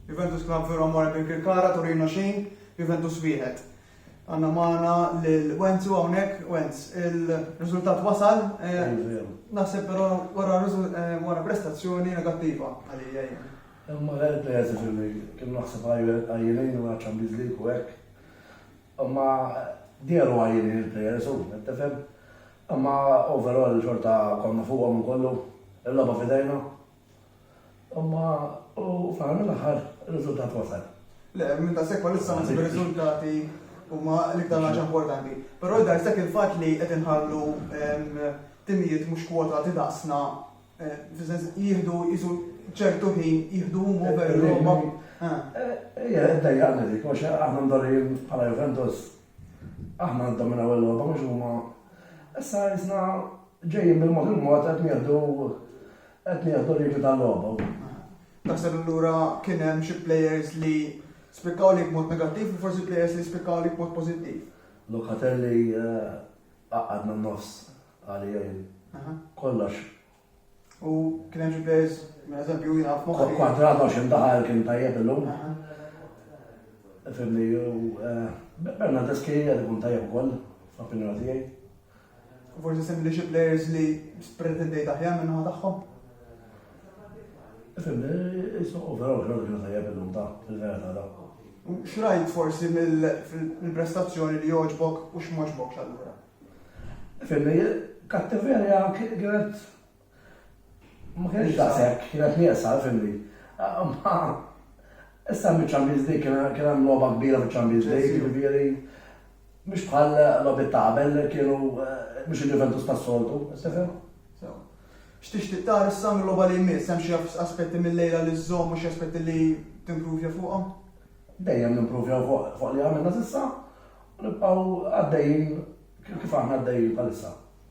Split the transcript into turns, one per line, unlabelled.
Juventus Club Vero Amore Birkirkara, Torino xejn, Juventus wieħed. Għanna maħna l-Wenzu għawnek, Wenz, il-rizultat wasal, eh, naħseb pero wara eh, prestazzjoni negattiva għalija. Imma għal
il-players fil-li kien naħseb għajjenin u għacċan bizlik u għek. Imma djeru għajjenin il-players u, għettefem. Imma overall xorta konna fuqa minn kollu, il-laba fidejna, Imma u fl-aħħar mill-aħħar ir-riżultat wasal. Le, minn ta' sekk
bħalissa ma nsib riżultati huma l-iktar ħaġa importanti. Però jidher sekk il-fatt li qed inħallu timijiet mhux kwotati daqsna eh, fis-sens jieħdu jisu ċertu ħin jieħdu huma veru eh, huma. Eh. Ejja, ddejjaqni
dik, għax aħna mdorrijin bħala Juventus. Aħna ndominaw il-logħba mhux huma. Issa jisna ġejjin bil-mod il-mod qed nieħdu Qed nieħdu regli tal-logħba u. Taħseb
allura kien hemm xi players li spikkaw lejk b'mod negattiv u forsi players li spikkaw lejk b'mod pożittiv? Locatelli
qaqqadna n-nofs għali jgħin. Kollox. U
kien hemm xi players, minn eżempju, jien naf moħħi. Kwadrato għax indaħal
kien tajjeb illum. Fimni, u Bernardes kien jgħid ikun tajjeb ukoll, fl-opinjoni tiegħi. Forsi
semmi li xi players li pretendejt aħjar minn naħa tagħhom.
Fimni, jisu overall xorta kienu tajjeb illum ta' fil-verita ta'. Xrajt
forsi mill-prestazzjoni li joġbok u x'moġbok x'allura. Fimni,
kattiverja kienet Ma kienx daqshekk, kienet nieqsa, ifhimni. Imma issa hemm iċ-Champions League, kien hemm logħba kbira fiċ-Champions League, jiġifieri mhux bħal logħbiet ta' qabel li kienu mhux il-Juventus tas-soltu, tifhem? Sew.
X'tixtieq tara issa mil-logħba li jmiss? Hemm xi aspetti mil-lejla li żżomm u xi aspetti li timpruvja fuqhom? Dejjem
nimpruvjaw fuq li għamilna s'issa u nibqgħu għaddejjin kif aħna għaddejjin bħalissa.